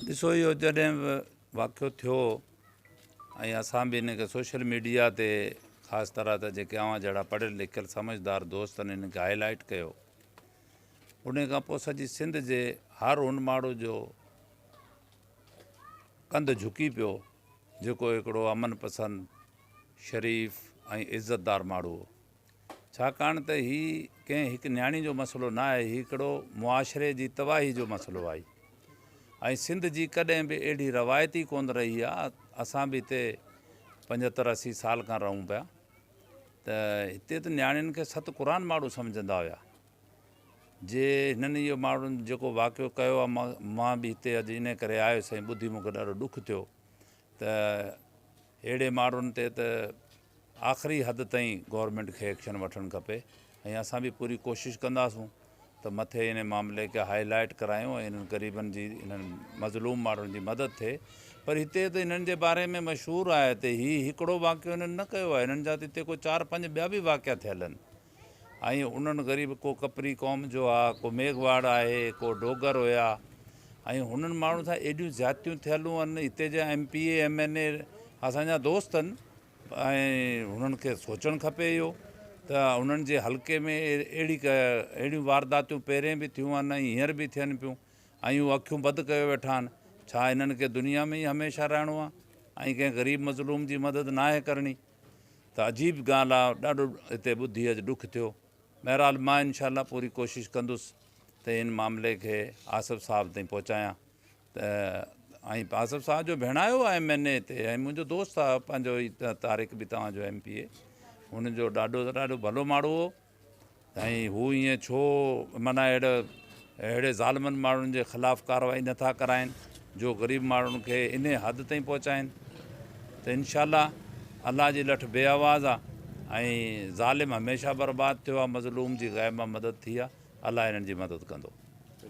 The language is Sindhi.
ڏسو اهو جڏهن به واقعو ٿيو ۽ اسان به ان کي سوشل ميڊيا تي خاص طرح ته جيڪي اوهان جهڙا پڙهيل لکيل سمجھدار دوستن ان کي هائي لائيٽ ڪيو ان کان پوء سڄي سنڌ جي هر ان ماڻهو جو ڪنڌ جھڪي پيو جيڪو هڪڙو امن پسند شريف ۽ عزتدار ماڻهو هو ڇاڪاڻ ته هي ڪنهن هڪ نياڻي جو مسئلو نه آهي، هي هڪڙو معاشري جي تباهي جو مسئلو آهي ۽ سنڌ جي ڪڏهن به اهڙي روايت ئي ڪونه رهي آهي، اسان به هتي پنجهتر اسي سال کان رهون پيا ته هتي ته نياڻين کي ست قرآن ماڙو سمجهندا هيا، جي هنن اهو ماڙو جيڪو واقعو ڪيو آهي مان به هتي اڄ انهي ڪري آيس ۽ ٻڌي مون کي ڏاڍو ڏک ٿيو ته اهڙي ماڙن تي ته آخري حد تائين گورنمينٽ کي ايڪشن وٺڻ کپي ۽ اسان به پوري ڪوشش ڪنداسون ته مٿي انهي معاملي کي هائي لائيٽ ڪرايون ۽ انهن غريبن جي انهن مظلوم ماڻهن جي مدد ٿئي پر هتي ته انهن جي باري ۾ مشهور آهي ته هي هڪڙو واقعو انهن نه ڪيو آهي انهن جا ته هتي ڪو چار پنج ٻيا به واقعا ٿيل آهن ۽ انهن غريب ڪو ڪپري قوم جو آ، ڪو ميگهواڙ آهي، ڪو ڊوگر هيا ۽ هنن ماڻهن سان ايڏيون زيادتيون ٿيلون ان هتي جا M P A M N A اسان جا دوست ان ۽ هنن کي سوچڻ کپي اهو ته هنن جي حلقي ۾ اهڙي اهڙيون وارداتيون پهرين به ٿيون ان هينئر به ٿين پيون ۽ هو اکيون بد ڪيو ويٺا آهن ڇا هنن کي دنيا ۾ ئي هميشه رهڻو آهي ۽ ڪنهن غريب مظلوم جي مدد ناهي ڪرڻي. ته عجيب ڳالهه آ ڏاڍو هتي ٻڌي اڄ ڏک ٿيو بهرحال مان انشاء الله پوري ڪوشش ڪندس ته ان معاملي کي آصف صاحب تائين پهچايان ته ۽ آصف صاحب جو ڀيڻايو آ ايم اين اي تي ۽ منهنجو دوست آ پنهنجو طارق به توهان جو ايم پي اي هن جو ڏاڍو ته ڏاڍو ڀلو ماڙو هو ۽ هو ائين ڇو معنيٰ اهڙي اهڙي ظالمن ماڻهن جي خلاف ڪارروائي نه ٿا ڪرائين جو غريب ماڻهن کي انهي حد تائين پهچائين ته انشاء الله الله جي لٺ بي آواز آ ۽ ظالم هميشه برباد ٿيو آ مظلوم جي غيب مان مدد ٿي آ الله انهن جي مدد ڪندو.